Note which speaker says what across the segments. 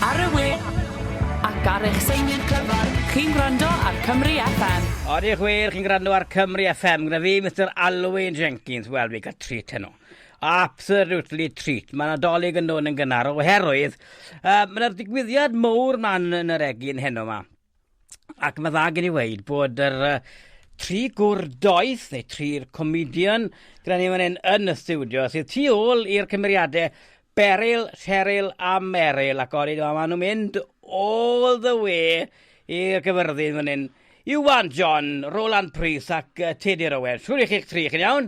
Speaker 1: Ar y we, ac ar eich seinwyr clyfar, chi'n gwrando ar Cymru FM. Ar eich we, chi'n
Speaker 2: gwrando ar Cymru FM, gyda fi, Mr Alwyn Jenkins, wel, fi gael treat heno. Absolutely treat. Mae Nadolig yn dod yn gynnar oherwydd uh, mae'r digwyddiad mowr ma'n yn yr egin heno yma. ac mae dda gen i weid bod yr uh, tri gwr doeth, neu tri'r comedian, gyda ni fan hyn yn y studio, sydd tu ôl i'r cymeriadau Beryl, Cheryl a Meryl, ac o'n i'n dweud, maen nhw'n mynd all the way i'r gyfyrddin fan hyn. Iwan John, Roland Prys ac uh, Teddy Rowen. Siwr i chi'ch tri, chi'n iawn?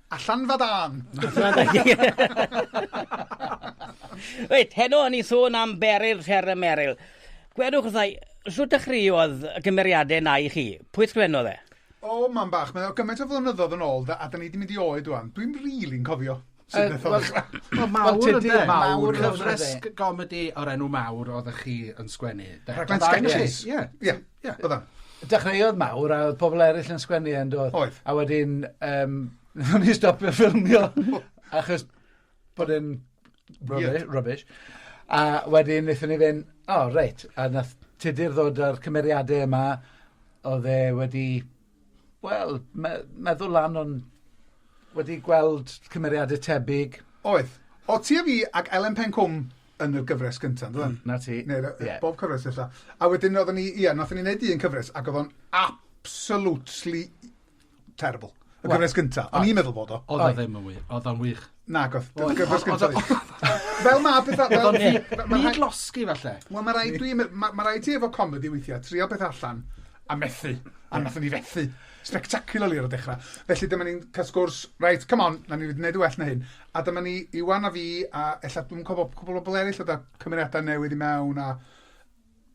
Speaker 2: A Llanfa
Speaker 3: Dân!
Speaker 2: Reit, heno yn ei sôn am Beryl, Sherry Meryl. Gwedwch wrtha i, shwt dechreuodd y cymeriadau na i chi? Pwy sgwennodd e? O, mam bach, mae
Speaker 3: o gymaint o flynyddoedd yn ôl, a da ni wedi mynd i oed rwan. Dwi'n rili'n really cofio. Sy'n beth oedd Wel,
Speaker 4: mawr ydy, mawr cyfres gomedi o'r enw mawr oeddech chi yn sgwennu. Raglen sketches.
Speaker 3: Ie. Ie. Ie, oedd o'n... Dechreuodd
Speaker 5: mawr a oedd pobl eraill yn sgwennu e, yn do... Oedd. ...A wedyn
Speaker 3: yym
Speaker 5: wnaethon ni stopio ffilmio achos bod e'n rubbish... Ie. ...rubbish a wedyn wnaethon ni fynd, "o reit", a wnaeth Tudur ddod â'r cymeriadau yma oedd e wedi... Wel, me- meddwl lan o'n... wedi gweld cymeriadau tebyg. Oedd. Oedd
Speaker 3: ti a fi ac Elen Pen Cwm yn y gyfres gyntaf, yn doedd? 'Na ti. Neu y- y- Ie.
Speaker 5: bob cyfres ella.
Speaker 3: A wedyn oedden ni, ie, wnaethon ni wneud un cyfres ac oedd o'n absolutely terrible. Y Wel- gyfres gyntaf. O'n i'n meddwl fod o. Oedd o ddim yn wych. Oedd o'n
Speaker 4: wych. Nagodd.
Speaker 3: Fel mae pethau... Fel ni. Mae rhaid losgi
Speaker 4: falle. Wel, mae rhaid dwi...
Speaker 3: Mae rhaid ti efo comedi weithiau, trio beth allan a methu. A nath ni fethu. Spectacularly ar y dechrau. Felly dyma ni'n cael sgwrs, reit, come on, na ni wedi gwneud y well na hyn. A dyma ni, Iwan a fi, a ella dwi'n cofio cwbl o bobl eraill oedd â cymeriadau newydd i mewn a...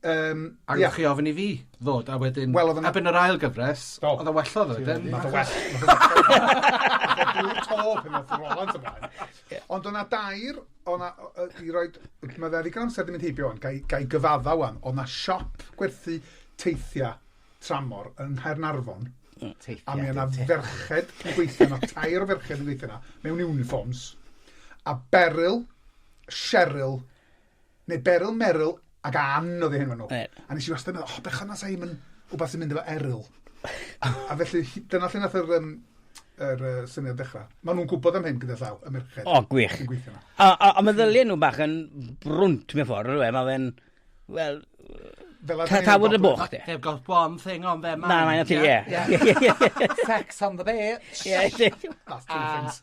Speaker 3: Um,
Speaker 4: a yeah. chi ofyn i fi ddod, a wedyn... Well, a byn yr ail gyfres, oh. oedd o wellodd wedyn.
Speaker 3: Oedd o well. Ond o'na dair, o'na, i roi, mae fe ddigon amser ddim yn heibio o'n, gai, gai gyfadda o'n, o'na siop gwerthu teithiau tramor yng Nghaernarfon, Teithiau, a mi o'na ferched yn gweithio yna, tair o ferched yn gweithio yna, mewn uniforms, a Beryl, Cheryl, Neu Beryl, Meryl ac Ann oedd eu henwa nhw. Right. A nes i wastad yn meddwl, oh, bechod na sa hi'm yn wbath sy'n mynd efo Eryl. a felly, dyna lle nath yr, um, yr uh, syniad dechrau. Maen nhw'n gwybod am hyn gyda llaw, y merched. O, gwych. A,
Speaker 2: a, a mae ddyliau nhw bach yn brwnt mewn ffordd, rwy'n mae fe'n... Wel, Tafod y bwch, de. They've got one thing on
Speaker 4: their mind. Na, mae'n ti, ie.
Speaker 2: Sex on the
Speaker 5: beach. Ie, That's two things.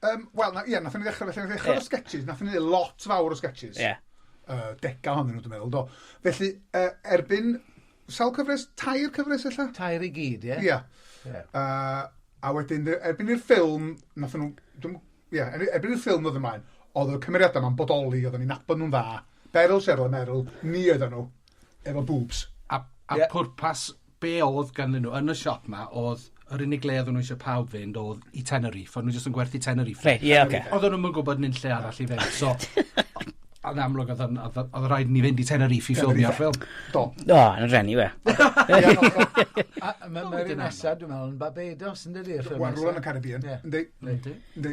Speaker 2: Um,
Speaker 3: Wel, ie, yeah, nath ni ddechrau, felly nath ni ddechrau yeah. sketches, nath ni ddechrau lot fawr o sketches. Ie. Yeah. Uh, dega hon nhw, dwi'n meddwl, do. Felly, uh, erbyn, sawl cyfres, tair cyfres illa? Tair i gyd, ie. Yeah. Ie.
Speaker 5: Yeah. Uh,
Speaker 3: a wedyn, erbyn i'r ffilm, nath nhw, dwi'n, ie, yeah, erbyn i'r ffilm oedd ymlaen, oedd y cymeriadau yma'n bodoli, oedd nhw'n nabod nhw'n dda. Beryl, Cheryl a Meryl, ni oedd nhw, efo boobs. A, a yeah.
Speaker 4: pwrpas be oedd ganddyn nhw yn y siop 'ma oedd yr unig le oedden nhw eisiau pawb fynd oedd i Tenerife, o'n nhw jyst yn gwerthu Tenerife. Reit, ie, oce. Oedden nhw'm yn gwybod nunlle arall i fynd, so yn amlwg oedd yn- oedd oedd rhaid i ni fynd i Tenerife i ffilmio'r ffilm. Do. O, yn y
Speaker 3: rhenni, we. A
Speaker 2: a ma'
Speaker 5: ma'r un nesa dwi'n meddwl yn Barbados yndydi y ffilm nesa? Wel rwla yn y Caribbean. Ie.
Speaker 3: Yndi. Yndi.
Speaker 2: Yndi.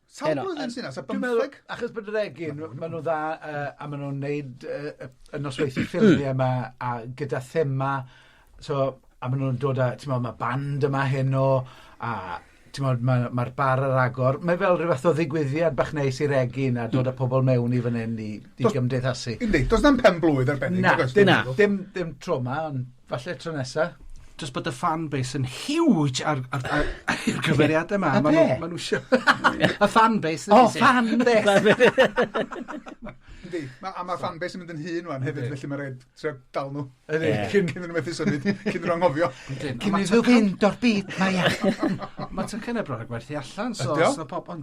Speaker 2: Sawl blwyddyn sy 'na,
Speaker 3: sa bymtheg? Achos bod yr
Speaker 5: egin, ma' nw dda yy a ma' nw'n neud yy yy y nosweithie ffilmie 'ma a gyda thema so a ma' nw'n dod â t'mo' ma' band yma heno a t'mod ma' ma'r bar ar agor, mae fel ryw fath o ddigwyddiad bach neis i'r egin a dod â pobol mewn i fan 'yn i i gymdeithasu. Yndi, do's na'm pen-blwydd
Speaker 3: arbennig nag oes? Na, dim dim
Speaker 5: dim tro 'ma on' Falle tro nesa. Jyst bod y fan
Speaker 4: base yn huge ar, ar, ar, ar gyfeiriadau yma. A be? Mae nhw sio... y fan base. O, fan base.
Speaker 5: Ydy,
Speaker 3: ma, a mae fan base yn mynd yn hun wan hefyd, felly mae'n rhaid trio dal nhw. Ydy, cyn cyn nhw methu
Speaker 5: symud,
Speaker 3: cyn nhw'n anghofio. Cyn iddyn nhw
Speaker 5: fynd o'r byd, mae ia. Mae tocynau bron
Speaker 4: a gwerthu allan, so os na pobl...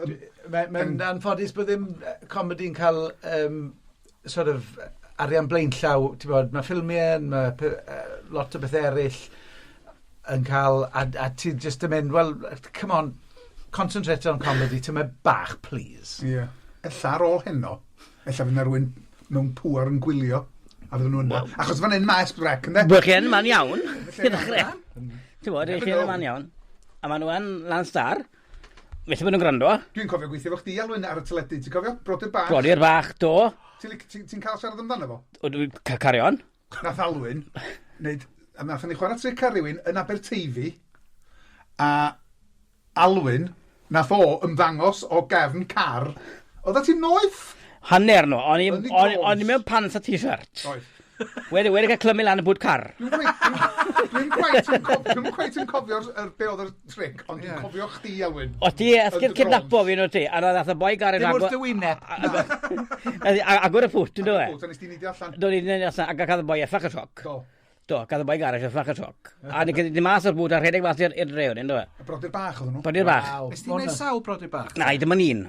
Speaker 3: Mae'n mae'n
Speaker 5: anffodus bod ddim yy comedi'n cael yym sort of arian blaenllaw, t'mod, ma' ffilmie'n ma' pe- yy lot o bethe eryll yn ca'l a d- a ti jyst yn mynd, wel, yy come on, concentrate on comedy tamaid bach, plîs. Ie, ella ar
Speaker 3: ôl heno, ella fy' 'na rywun mewn pŵer yn gwylio, a fydden nhw'n me'wl, achos fan 'yn ma' Esbyrec, ynde? Wel, chi yn man iawn,
Speaker 2: i ddechre. T'mod, 'ych chi yn man iawn, a ma' nw yn Lance Star. Methu bod yn gwrando. Dwi'n cofio gweithio efo chdi,
Speaker 3: Alwyn, ar y teledu, ti'n cofio? Brodyr Bach. Brodyr Bach, do.
Speaker 2: Ti'n ti, ti cael
Speaker 3: siarad amdano fo? O, dwi'n cael cario
Speaker 2: on. Nath Alwyn,
Speaker 3: wneud, a nath ni chwarae tric ar rywun yn Aberteifi, a Alwyn, nath o ymddangos o gefn car, oedd ti'n noeth? Hanner nhw,
Speaker 2: o'n i mewn pants a t-shirt. Oedd. Wedi,
Speaker 3: wedi cael
Speaker 2: clymu lan y bwyd car. Dwi'n quite yn
Speaker 3: cofio, dwi'n quite yn cofio yr be oedd yr tric, ond dwi'n cofio chdi, Elwyn. O ti, esgyd
Speaker 2: cydnapo fi, no ti. A na, nath y boi garin agor... Dim wrth
Speaker 5: y
Speaker 2: wyneb. Agor y ffwt, yn dweud. Agor y ffwt, a nes ti'n nidio allan. Do, nidio
Speaker 3: allan, a gael y
Speaker 2: boi effach y sioc. Do. Do, gael y
Speaker 3: boi garin
Speaker 2: effach y sioc. A ni gyda mas o'r bwyd a rhedeg mas i'r drewn, yn dweud. Brodyr bach oedd nhw. Brodyr
Speaker 3: bach. Nes ti'n gwneud
Speaker 2: sawl brodyr
Speaker 4: bach? Na, i ddim yn un.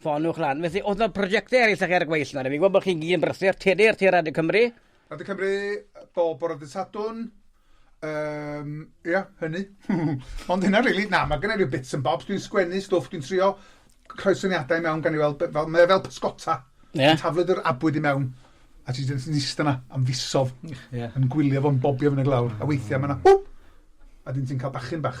Speaker 2: Ffoniwch lan. Felly, oedd yna prosiectau eraill ag er gweill nawr. Fi'n gwybod bod chi'n gyd yn brysur. Tudur, tudur Radio Cymru. Radio Cymru,
Speaker 3: bob bore dydd Sadwn. Um, ia, yeah, hynny. Ond hynna, really, na, mae gennau rhyw bits and bobs. Dwi'n sgwennu stwff, dwi'n trio rhoi syniadau mewn gan i weld, fel, mae fel pysgota. Yeah. Taflod yr abwyd i mewn. A ti'n dweud yn eistedd yna am fisodd. Yeah. Yn gwylio fo'n bobio fy'n y glawr. A weithiau mae yna, hwp! A dyn ti'n cael bachyn bach.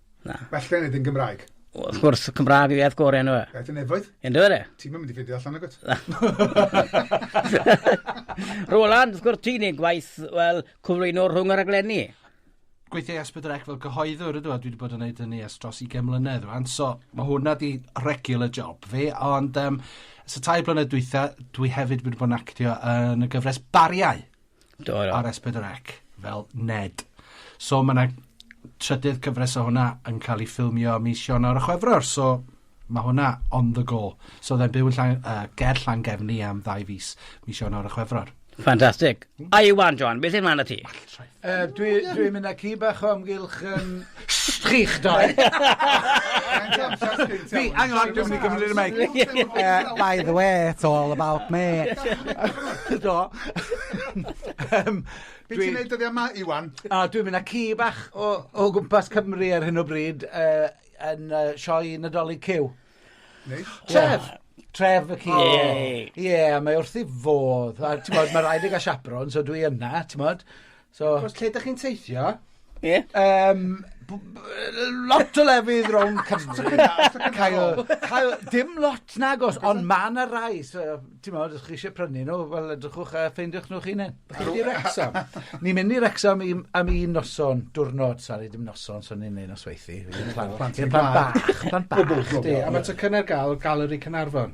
Speaker 3: Na. Well gen i yn
Speaker 2: Gymraeg.
Speaker 3: Wrth gwrs, y Cymraeg
Speaker 2: yw iaith gore yn yw Iaith y nefoedd. Yn dweud
Speaker 3: e? Ti'n mynd i
Speaker 2: ffeindio allan agos. Roland, wrth gwrs, ti'n ei gwaith, wel, cyflwyno rhwng y rhaglenni. Gweithio i
Speaker 4: Esbydrec fel gyhoeddwr ydw, a dwi wedi bod yn neud hynny ers dros 20 mlynedd rwan, so mae hwnna di regular job fi, ond um, so tai blynedd dwytha, dwi hefyd wedi bod yn actio yn y gyfres Bariau. Do, do. Ar S4C, fel Ned. So mae yna trydydd cyfres o hwnna yn cael ei ffilmio mis Sionawr a Chwefror, so mae hwnna on the go. So oedd e'n byw yn llan, uh, ger Llangefni am ddau fus mis Sionawr a Chwefror. Ffantastig.
Speaker 2: A Iwan, John, beth yw'n mlaen â ti? Well, right. Uh, dwi,
Speaker 5: dwi'n mynd â ci bach o amgylch um, Chi'ch doi!
Speaker 6: Fi, hang on, dwi'n mynd i gymryd y meic. Yy, by the way, it's all about me. Do.
Speaker 5: Yym,
Speaker 3: Be' ti'n dwi- neud dyddia' 'ma, Iwan? A dwi'n mynd â ci
Speaker 5: bach o o gwmpas Cymru ar hyn o bryd yy yn yy sioe Nadolig Cyw. Neis. Tref! Tref y ci. O! Ie, mae wrth ei fodd, a t'mod, ma' raid e ga'l chaperone, so dwi yna, t'mod? So... Os lle dych
Speaker 4: chi'n teithio... Ie? Yym
Speaker 2: b- b- yy
Speaker 5: lot o lefydd rownd Cymru a cael cael dim lot nagos ond ma' 'na rai so t'mod os chi isie prynu nw wel edrychwch yy ffeindiwch nw'ch hunen. Dych chi Wrecsam?
Speaker 4: Ni'n mynd i Wrecsam
Speaker 5: i- am un noson, diwrnod, sori dim noson so ni'n neud nosweithi. Plant bach. Plant bach. Ie a
Speaker 4: ma' tocynne ar ga'l Galeri Caernarfon.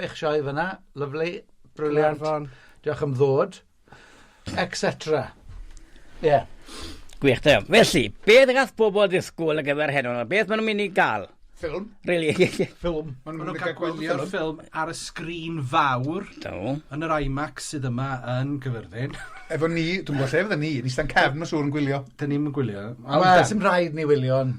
Speaker 5: eich sioe fan'na, lyfli, brilliant. Caernarfon. Diolch am ddod, et cetera. Ie. Gwych,
Speaker 2: da iawn. Felly, beth gall pobl ddisgwyl ar gyfer heno? Beth maen nhw'n mynd i gael? Ffilm. Really? Ffilm. Maen Maen nhw'n
Speaker 5: cael gwylio'r
Speaker 4: ffilm ar y sgrin fawr Do. yn yr
Speaker 2: IMAX
Speaker 4: sydd yma yn Cyfyrddin. Efo ni, dwi'n
Speaker 3: gwybod lle fydden ni, ni stan cefn o siŵr yn gwylio. Dyn ni'm yn gwylio.
Speaker 4: Wel, sim rhaid
Speaker 5: ni wylio, ond